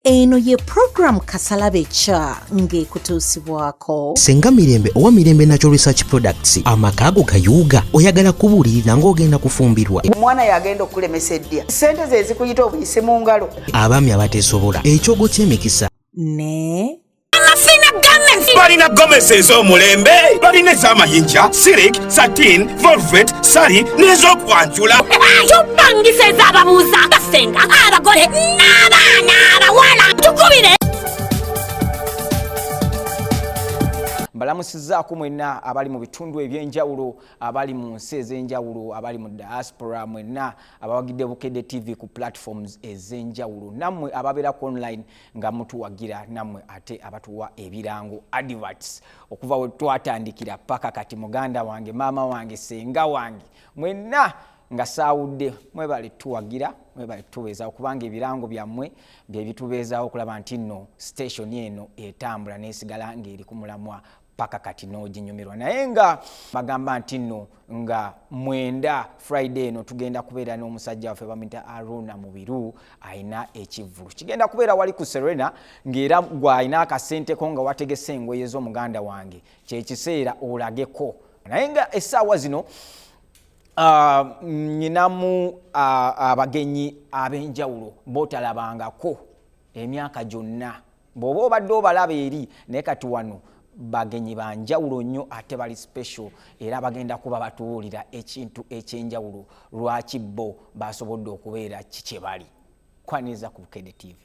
eno ye program kasalabe kya ng'ekutuusibwako senga mirembe owa mirembe natural research products amaka ago gayuuga oyagala kubuulirira ng'ogenda kufumbirwa omwana yagenda okukulemesa eddya sente ze zikuyita obuyise mu ngalo abaami abateesobola ekyogo ky'emikisa ne balina gomesi ez'omulembe balina ez'amayinja sirik satin volvet sali n'ez'okwanjula tubangisa ez'ababuuza basenga abagole n'abaana abawala tukubire mbalamusizaako mwenna abali mu bitundu ebyenjawulo abali mu nsi ez'enjawulo abali mu diaspora mwenna abawagidde bukedde tv ku platforms ez'enjawulo nammwe ababeera ku online nga mutuwagira namwe ate abatuwa ebirango adverts okuva we twatandikira paka kati muganda wange maama wange senga wange mwenna nga saawudde mwebale tuwagira mwebale tutubeezawo kubanga ebirango byammwe bye bitubeezawo okulaba nti nno station eno etambula n'esigala ng'eri ku mulamwa paka kati noginyumirwa naye nga bagamba nti no nga mwenda friday eno tugenda kubeera n'omusajja waffe bamuyita aruna mubiru alina ekivvulu kigenda kubeera wali ku serena ng'era gwalina akasenteko nga wategese engoye z'omuganda wange kyekiseera olageko naye nga essaawa zino ah, nyinamu ah, abagenyi ab'enjawulo botalabangako emyaka gyonna bw'oba obadde obalaba eri naye kati wano bagenyi ba njawulo nnyo ate bali special era bagenda kuba batubuulira ekintu ekyenjawulo lwaki bo basobodde okubeera ki kye bali kwaniriza ku bukede tv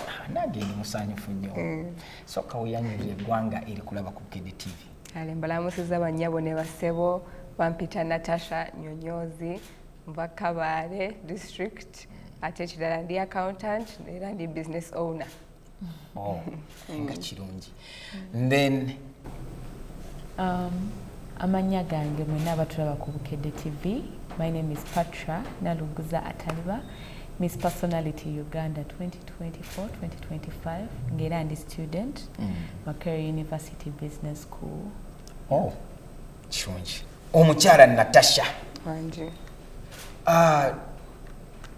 ah, nange ndi musanyufu nnyo mm. soka weyanyulira eggwanga eri kulaba ku bukede tv ale mbalamusiza bannyabo ne basebo bampita natasha nyonyozi nva kabaale district ate ekirala ndi accountant era ndi business owner oh, nga kirungi then um, amannya gange mwena abatulaba ku bukedde tv my name is patra naluguza ataliba miss personality uganda 2024-2025 ngaera ndi student mm. makerry university business school oh, kirungi omukyala natasha ah,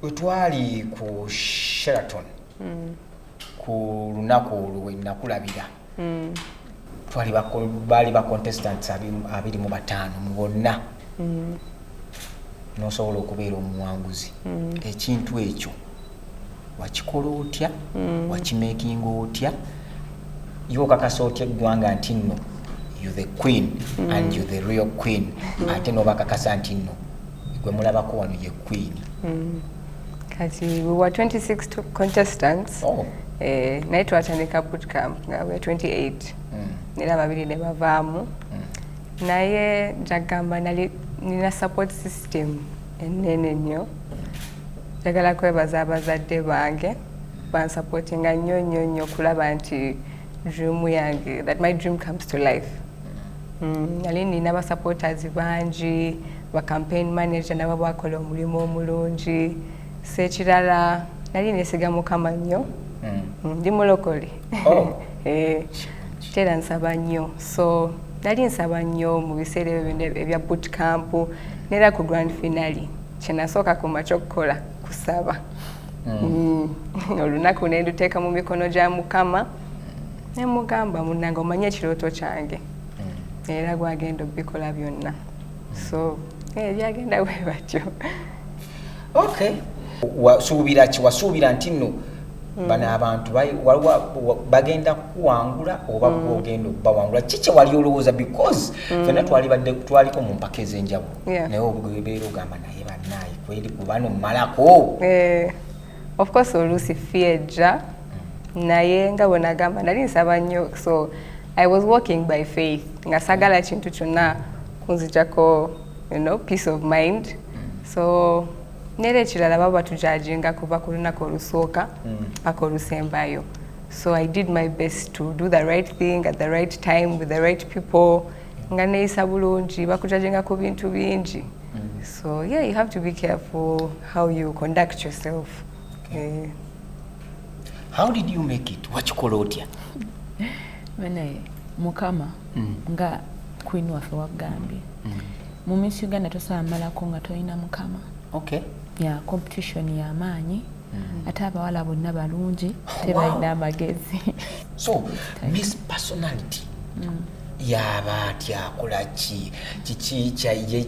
wetwali ku sheraton mm. ku lunaku olwo wenakulabira mm. twali baali ba contestant abiri mu bataano mu bonna mm. nosobola okubeera omuwanguzi mm. ekintu ekyo wakikola otya mm. wakimakinga otya yo okakasa otya eggwanga nti nno you the queen mm. and you the real queen mm. ate nobakakasa nti nno gwe mulabako wano ye queen mm. kati we were 26 contestants oh. eh, naye twatandika bootcamp nga we 28 mm. era babiri ne bavaamu mm. naye njagamba nali nina support system ennene nnyo njagala kwebaza abazadde bange bansapotinga nnyo nnyo nnyo okulaba nti dream yange that my dream comes to life mm, nali mm, nina basupporters bangi ba campaign manager nabo bakola omulimu omulungi sekirala nali nesiga mukama nnyo mm. mm, ndi mulokole oh. eh. Kitera nsaba nnyo so nali nsaba nnyo mu biseera ebyo byonna ebya boot camp neera ku grand finale kyenasooka ku makya okukola kusaba mm. Mm. olunaku ne nduteeka mu mikono gya mukama ne mugamba munange omanye ekirooto kyange mm. era gwagenda obikola byonna so eh, byagenda bwe batyo okay wasuubira ki wasuubira nti nno hmm. bano abantu bagenda kukuwangula oba hmm. gwogenda okubawangula ki kyewali olowooza because hmm. fena twalibadde twaliko mu mpaka ez'enjawulo naye obeera ogamba naye banaye kweri kubano mumalako eh, of course oluusi fiejja naye nga bwenagamba nali nsaba nnyo so i was walking by faith nga sagala kintu kyonna kunzijako you know, peace of mind so nera ekirala baba batujajinga kuva ku lunaku olusooka mm. paka olusembayo so i did my best to do the right thing at the right time with the right people nga neyisa bulungi bakujajinga ku bintu bingi mm. so yeah you have to be careful how you conduct yourself okay. uh, eh. how did you make it wakikola otya mukama mm. nga queen waffe wagambye mm. mu miss uganda tosobola malako nga tolina mukama okay. ya competition yamaanyi mm -hmm. ate abawala bonna balungi tebalina amagezi so miss personality mm. yaba ati akola ki kiki kyaye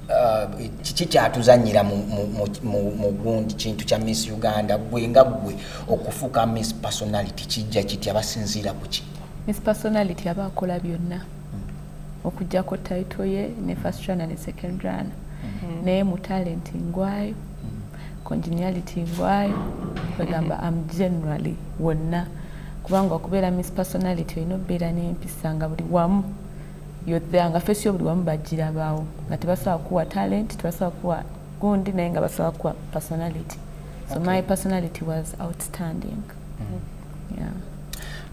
uh, kiki kyatuzanyira mu gundi kintu kya miss uganda gwe nga gwe okufuuka miss personality kijja kiti abasinziira ku ki miss personality aba akola byonna okujjako title ye ne first runner ne second runner mm-hmm. naye mu talent ngwayo mm-hmm. congeniality ngwayo kwegamba mm-hmm. am generally wonna kubanga okubeera miss personality olina okubeera n'empisa nga buli wamu yothe nga fesi yo buli wamu bagirabaawo nga tebasobola kuwa talent tebasobola kuwa gundi naye nga basobola kuwa personality so okay. my personality was outstanding mm -hmm.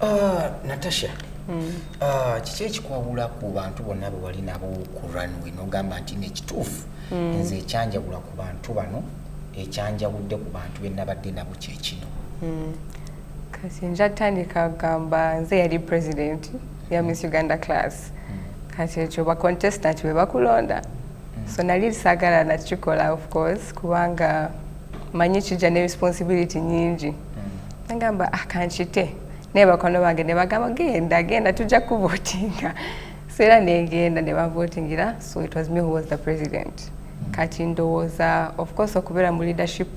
Ah, natasha hmm. ah, kiki ekikwawula ku bantu bonna be wali nabo ku runway nogamba nti nekituufu hmm. nze ekyanjawula ku bantu bano ekyanjawudde ku bantu benabadde nabo kyekino hmm. kati nja tandika kugamba nze yali president ya miss uganda class kati ekyo bacontestant be bakulonda so nali sagala nakikola of course kubanga manyi kijja ne responsibility nyingi nagamba akankite ah, naye bakwano bange ne bagamba genda genda tujja kuvotinga so era negenda ne bavotingira so it was me who was the president kati ndowooza of course okubeera mu leadership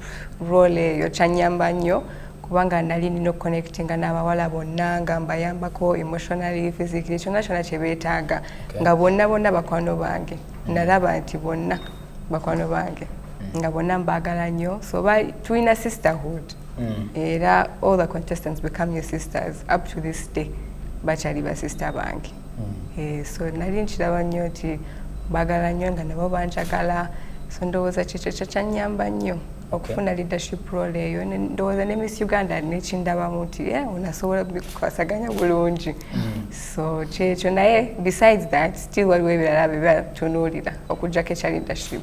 role eyo kyanyamba nnyo kubanga nali nina okuconnectinga n'abawala bonna nga mbayambako emotionally physically kyonna kyonna kye beetaaga nga bonna bonna bakwano bange nalaba nti bonna bakwano bange nga bonna mbaagala nnyo so tulina sisterhood mm. era all the contestants become your sisters up to this day bakyali basista bange mm. eh, so nali nkiraba nnyo nti bagala nnyo nga nabo banjagala so ndowooza kyekyo kyekyanyamba nnyo okufuna leadership role eyo ndowooza ne miss uganda nekindabamu nti eh, onasobola bikwasaganya bulungi mm. so kyekyo naye besides that still waliwo ebirala bebatunuulira okujjako ekya leadership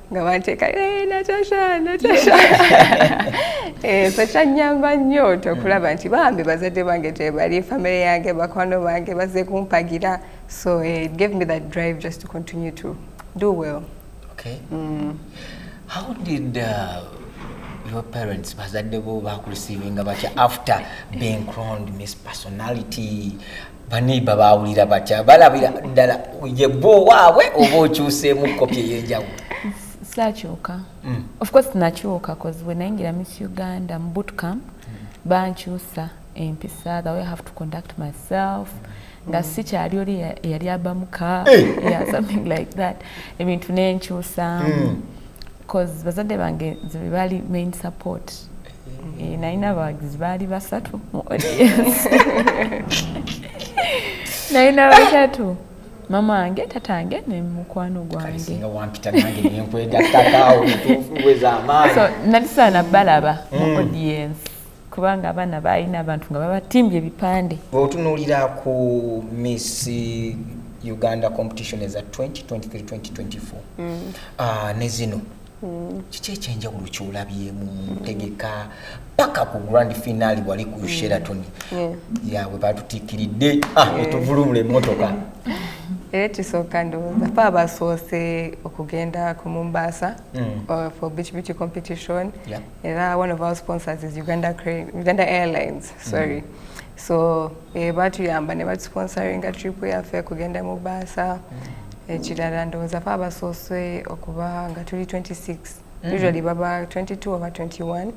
nga banteeka eh, natasha natasha ekyo eh, kyanyamba nnyo okulaba nti bambi bazadde bange tebali famire yange bakwano bange baze kumpagira so eh, it gave me that drive just to continue to do well okay. mm. how did uh, your parents bazadde bo bakurisivinga batya after being crowned miss personality baneiba bawulira batya balabira ddala yebba owaabwe oba okyuseemu kopi eyenjawulo sakyuka mm. ofcourse nakyuka bcause wenayingira miss uganda mu bootcamp mm. bankyusa empisa the way have to conduct myself nga mm. sikyali oli eyali abamuka eh. something like that ebintu nenkyusa bcause bazadde bange nze bebali main support Eh, nalina abawagizi baali basatu mu audience nalina basatu mama wange tata wange ne mukwano gwange nalisaana balaba mu mm. audience kubanga abaana baalina abantu nga babatimbye ebipande otunuulira ku miss uganda competition eza 2023 2024 mm. ah, ne zino mm. kiki ekyenjawulo kyolabyemu ntegeka paka ku grand final wali ku mm. sheraton yawe batutikiridde ah, etuvulubula emotoka era ekisooka ndowooza fe abasoose okugenda ku mumbaasa mm. uh, for beach beauty competition era one of our sponsors is uganda airlines sorry mm. so eh, batuyamba ne batusponsoringa tripu yaffe kugenda mu baasa mm. ekirala ndowooza fe abasoose okuba nga tuli 26 mm. usually baba 22 oba 21 mm.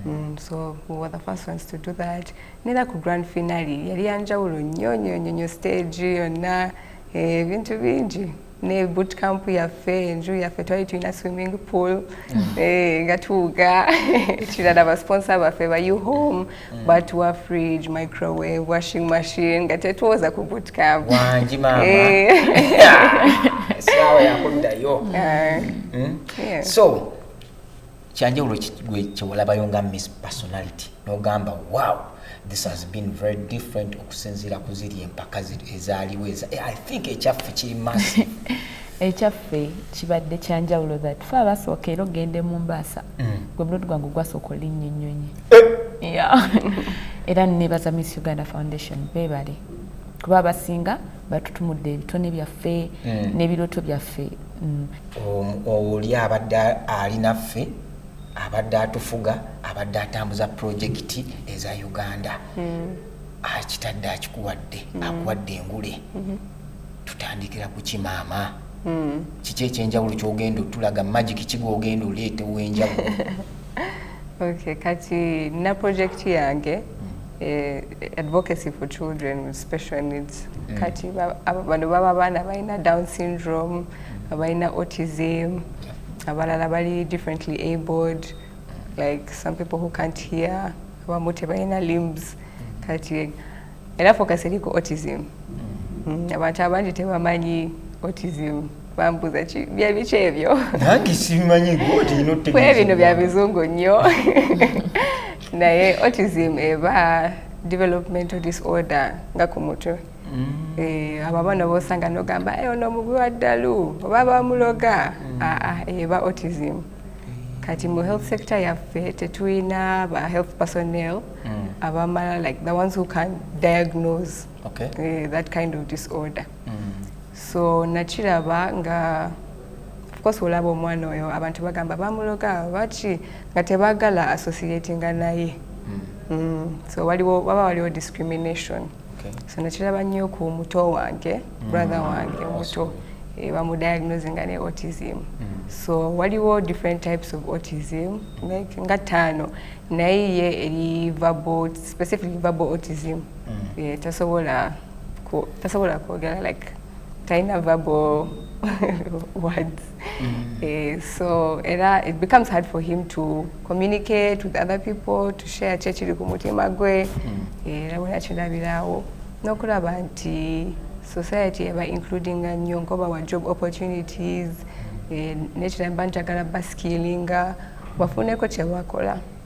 mm, so we were the first ones to do that nera ku grand finale yali yanjawulo nnyo nnyo nnyo nnyo stage yonna eh, ebintu bingi ne boot camp yaffe enju yaffe twali tulina swimming pool mm. eh, nga tuwuga ekirala basponsa baffe ba u home mm. but wa fridge microwave washing machine nga tetwoza ku boot camp wangi mama eh. sawa yakuddayo mm. so kyanjawulo gwe kyewalabayo nga miss personality nogamba wow this has been very different okusinziira ku ziri empaka ezaaliwo eza eh, i think ekyaffe kiri massive ekyaffe kibadde kyanjawulo that fe abasooka era ogende mu mbaasa mm. gwe mulodo gwange gwasooka olinnya ennyonyi eh. era nebaza miss uganda foundation bebale kuba abasinga batutumudde ebitone byaffe mm. n'ebirooto byaffe mm. oli abadde ali naffe abadde atufuga abadde atambuza pulojekiti eza uganda mm. akitadde akikuwadde mm. akuwadde engule mm -hmm. tutandikira ku kimaama mm. kiki ekyenjawulo kyogenda otulaga magiki kigwogenda oleeta owenjawulo okay, kati na pulojekiti yange mm. Eh, advocacy for children with special needs mm. kati bano baba abaana balina down syndrome abalina autism abalala bali differently abled like some people who can't hear abamu tebalina limbs mm. kati era focus eri ku autism mm. abantu abangi tebamanyi autism bambuza ki byabiki ebyo nange sibimanyi gwotiinokwe bino bya bizungu nnyo naye autism eba developmental disorder nga ku mutwe mm. eh, abo abaana bosanga nogamba eh, ono omubi wa ddalu oba bamuloga mm. aa ah, ah, eba autism mm. kati mu health sector yaffe tetulina ba health personnel abamala like the ones who can diagnose okay. uh, that kind of disorder mm. so nakiraba nga ofcourse olaba omwana oyo abantu bagamba bamuloga baki nga tebagala associatinga naye hmm. mm, so waliwo waba waliwo discrimination so nakiraba nnyo ku muto wange hmm. brother wange omuto eh, bamudiagnose nga ne autism hmm. so waliwo different types of autism like nga ttaano naye ye eri verbal specifically verbal autism tasobola tasobola kwogera like talina verbal words mm. eh, so era it becomes hard for him to communicate with other people to share kyekiri ku mutima gwe mm. eh, era bwena kirabirawo n'okulaba nti society eba including nnyo nkoba wa job opportunities eh, nekiramba njagala baskilinga bafuneko kyebakola mm.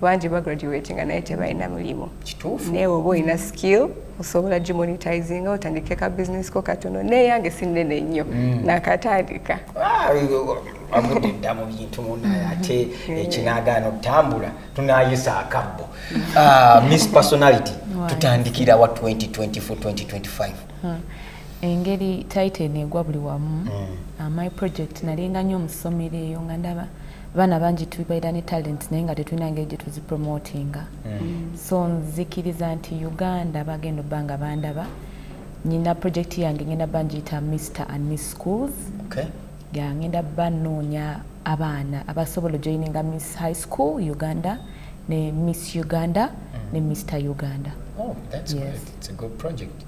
bangi bagraduatinga naye tebalina mulimu naye oba olina skill osobola gimonitizinga otandike ka business ko katono naye yange sinene nnyo mm. nakatandika ah, avude dda mu bintu munaye ate ekinagaana eh, okutambula tunayisa akabbo ah, miss personality tutandikirawa 2024 hmm. engeri titan egwa buli wamu hmm. ah, my project nalinga nyo omusomero eyo nga ndaba abaana bangi tubaira ne talent naye nga tetulina ngeri gye tuzipromotinga mm. so nzikiriza nti uganda bagenda obba nga bandaba nyina project yange ngenda ba ngiyita mr and miss schools okay. ya ngenda banoonya abaana abasobola ojoininga miss high school uganda ne miss uganda mm. ne mr uganda oh, that's yes. good. It's a good project.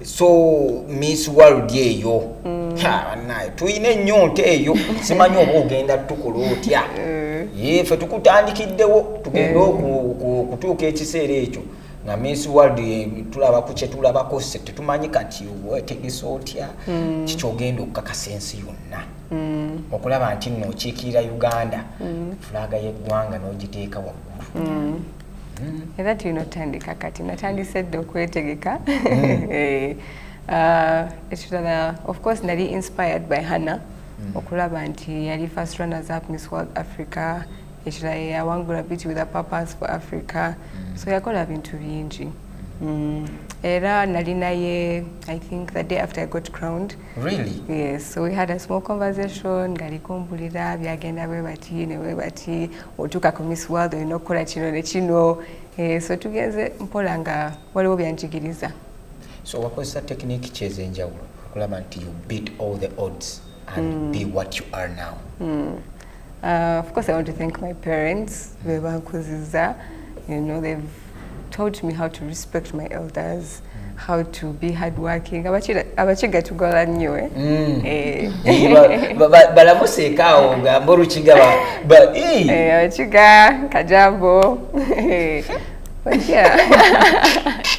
so miss world eyo mm. banaye tulina enyonta eyo simanyi oba ogenda tukola otya mm. yefe tukutandikiddewo tugende mm. okutuuka ekiseera ekyo nga miss world eh, tulaba ku kyetulabako se tetumanyi kati wetegesa otya mm. kikyogenda okukakasa ensi yonna mm. okulaba nti nno okiikirira uganda mm. fulaga yeggwanga n'ogiteeka waggulu mm. Mm-hmm. era tulina otandika kati natandise dda okwetegeka mm. eh, uh, ekirala of course nali inspired by hanna mm. okulaba nti yali first runners up miss world africa ekirala yeyawangula beauty with a purpose for africa mm. so yakola bintu bingi era nali naye i think the day after i got crowned really yes so we had a small conversation ngalikumbulira byagenda bwe bati ne bwe bati otuuka ku miss world olina okukola kino ne kino eh, so tugenze mpola nga waliwo byanjigiriza so wakozesa tekiniki ki ez'enjawulo okulaba nti you beat all the odds and mm. be what you are now mm. uh, of course i want to thank my parents bebankuziza you know they've taught me how to respect my elders mm. how to be hardworking abakiga tugola nnyo eh? mm. eh. balamuseekaawo ngamba olukiga eh, abakiga kajambo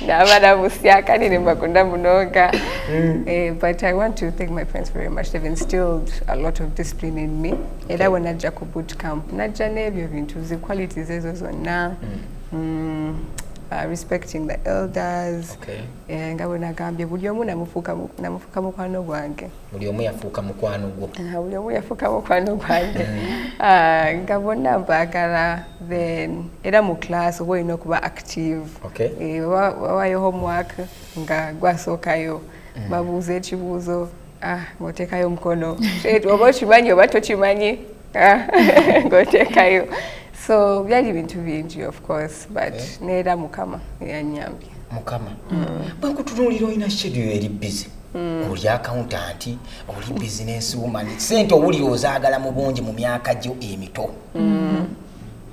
nabalamusya kandi nembakunda munoga mm. eh, but i want to thank my friends very much they've instilled a lot of discipline in me era bwe najja ku boot camp najja n'ebyo bintu zi qualities ezo zonna mm. mm, uh, respecting the elders okay. yeah, nga bwe nagambye buli omu namufuuka mukwano gwange buli omu yafuuka mukwano gwo uh, buli omu yafuuka mukwano gwange mm. uh, nga bonna mbaagala then era mu class oba olina okuba active okay. e, eh, wawayo homework nga gwasookayo mm. babuuza ekibuuzo Ah, ng'oteekayo omukono oba okimanyi oba tokimanyi ah, ng'oteekayo so byali bintu bingi of course but eh? neera mukama yanyambye mukama mm. bwenkutunuulira olina shedio eri bizi mm. oli akauntanti oli bizinesi womani sente owulira ozaagala mu bungi mu myaka gyo emito mm.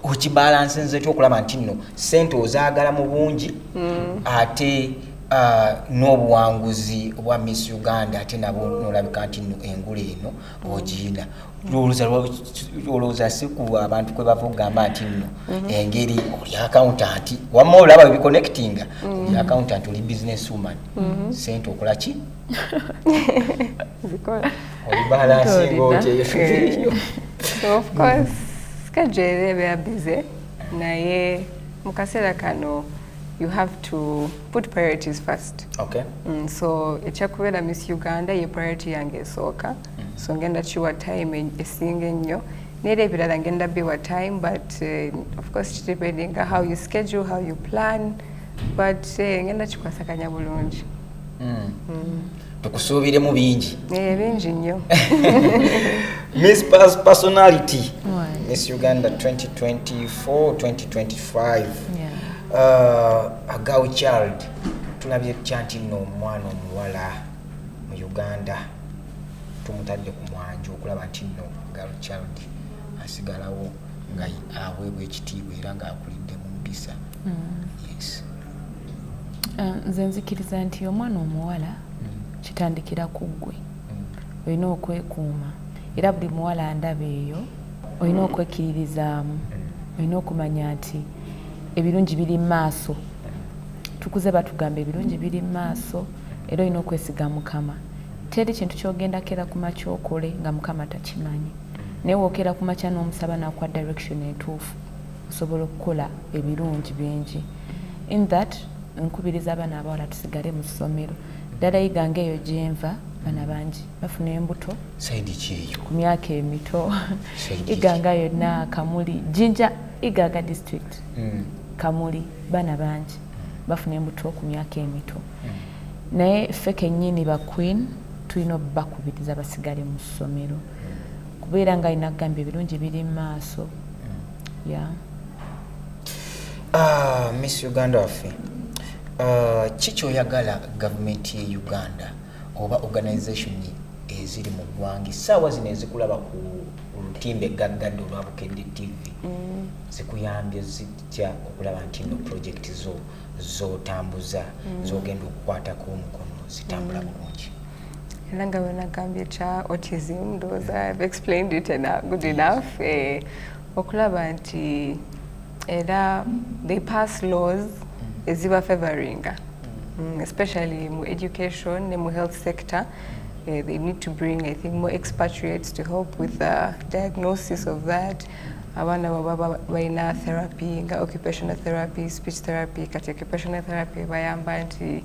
okibalansi nze ekyo okulaba nti nno sente ozaagala mu bungi mm. ate uh, n'obuwanguzi obwa miss uganda ate nabo nolabika nti nno engula eno ogiina olowooza si ku abantu kwe bava okugamba nti nno mm-hmm. engeri oli akauntanti wamma olaba ebiconnectinga mm. oli akauntanti oli business woman mm-hmm. sente okola ki kajere beya bize naye mu kaseera kano you have to put priorities first okay. mm, so ekyakubeera miss uganda ye priority yange esooka mm -hmm. so ngenda kiwa time esinga ennyo neera ebirala ngenda biwa time but uh, of course depending how you schedule how you plan but uh, ngenda kikwasakanya bulungi mm. mm. tukusuubiremu bingi eh, bingi nnyo miss personality miss uganda 2024 2025 uh, agaw child tulabye tutya nti nno omwana omuwala mu uganda tumutadde ku mwanjo okulaba nti nno gal child asigalawo nga aweebwa ekitiibwa era ng'akulidde mu mpisa mm. yes Eh, nze nzikiriza nti omwana omuwala kitandikira ku ggwe olina okwekuuma era buli muwala ndaba eyo olina okwekkiririzaamu olina okumanya nti ebirungi biri mu maaso tukuze batugamba ebirungi biri mu maaso era olina okwesiga mukama teri kintu kyogenda kera ku makya okole nga mukama takimanyi naye wookera ku makya n'omusaba nakuwa direction entuufu osobola okukola ebirungi bingi in that nkubiriza abaana abawala tusigale mu ssomero ddala iganga eyo gyenva bana bangi bafuna embuto ku myaka emito iganga yonna kamuli jinja iganga district hmm. kamuli bana bangi bafuna embuto ku myaka emito hmm. naye ffe kennyini ba queen tulina obubakubiriza basigale mu ssomero kubeera nga alina kugamba ebirungi biri mu maaso mm. ya ah, miss uganda waffe ah, ki kyoyagala gavumenti ye uganda oba organization eziri mu ggwanga essaawa zino ezikulaba ku olutimbe gaggadde olwa bukedde tv mm. zikuyambye zitya okulaba nti no projekiti zo zotambuza mm. zogenda okukwatako omukono zitambula bulungi era nga wenagambye kya autism ndowooza have explained it enough, good enough eh, okulaba nti era they pass laws mm. eziba favoringa mm. mm, especially mu education ne mu health sector Uh, they need to bring, I think, more expatriates to help with the diagnosis of that. abaana baba balina therapy nga occupational therapy speech therapy kati occupational therapy bayamba nti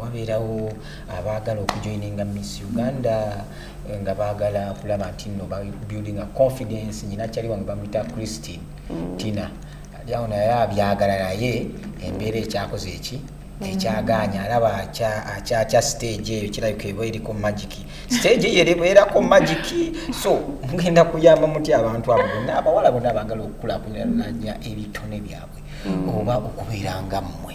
wabeerawo abaagala okujoininga miss uganda eh, nga baagala kulaba nti no building a confidence nyina kyali wange bamuyita christine mm. tina lyawo naye abyagala naye embeera ekyakoze eki mm. ekyagaanya alaba akyakya stage eyo kirabika eba eriko magiki stage eyo ebeerako magiki so mugenda kuyamba muti abantu abo bonna abawala bonna baagala okukulakulanya ebitone byabwe mm. oba okubeera nga mmwe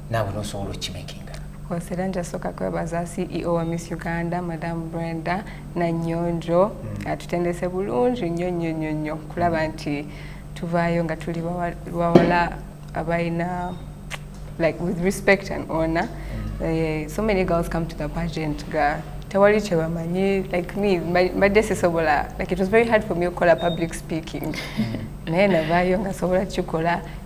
naawe nosobola okimakinga kose era njasooka kwebaza ceo wa miss uganda madamu brenda nanyonjo hmm. atutendese bulungi nnyo nnyo nnyo nnyo kulaba nti tuvaayo nga tuli bawala abalina like with respect and honor mm. uh, so many girls come to the pageant ga tewali kyebamanyi like me mbadde sisobola like it was very hard for me okukola public speaking mm. naye navaayo nga sobola kikola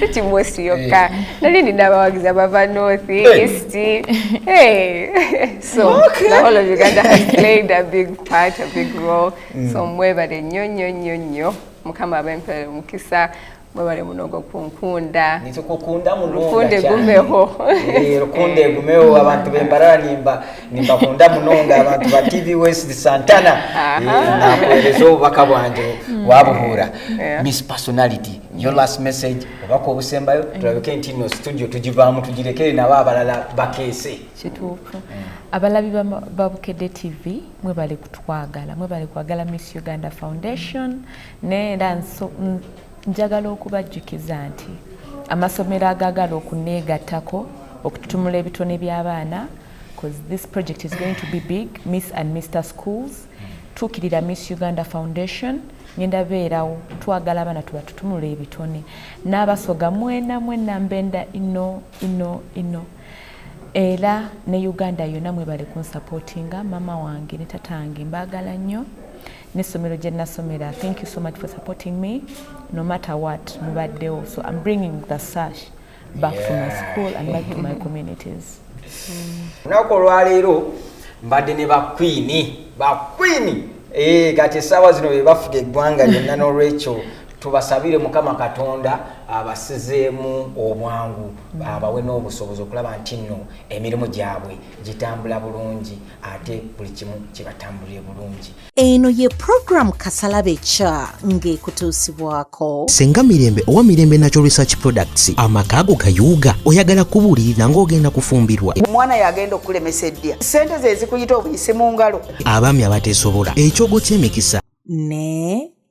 si kibosi yokka eh. nali nina abawagizi abava north eh. east eh. so the whole of uganda has played a big part a big role mm. so mwebale nnyo nnyo nnyo nnyo mukama abempere omukisa mwebale munogo kunkunda lukunde gumeho lukunde gumeho abantu bembarara nimba nimba kunda munonga abantu ba tv west santana nakuwereza obubaka bwange mm. wabuhuura miss personality your last message obaka obusembayo mm. tulabike nti no studio tugivaamu tugirekere nabo abalala bakeese kituufu mm. abalabi ba bukedde tv mwebale kutwagala mwebale kwagala miss uganda foundation naye era njagala okubajjukiza nti amasomero agagala okuneegattako okututumula ebitone by'abaana because this project is going to be big miss and mr schools tuukirira miss uganda foundation ngenda beerawo twagala abaana tubatutumula ebitone n'abasoga mwena mwena mbenda ino ino ino era ne uganda yonna mwebale kunsupportinga mama wange ne tata wange mbaagala nnyo n'essomero gye nasomera thank you so much for supporting me no matter what mubaddewo so im bringing the sash back yeah. to my school and back to my communities lunaku mm. olwaleero mbadde ne bakwini bakwini eh, kati esaawa zino bebafuga eggwanga lyonna nolwekyo tubasabire mukama katonda abasizeemu obwangu abawe n'obusobozi okulaba nti nno emirimu gyabwe gitambula bulungi ate buli kimu kibatambulire bulungi eno ye program kasalabe kya ng'ekutuusibwako senga mirembe owa mirembe natural research products amaka ago gayuuga oyagala kubuulirira ng'ogenda kufumbirwa omwana yagenda okukulemesa eddya sente ze zikuyita obuyisi mu ngalo abaami abateesobola ekyogo ky'emikisa ne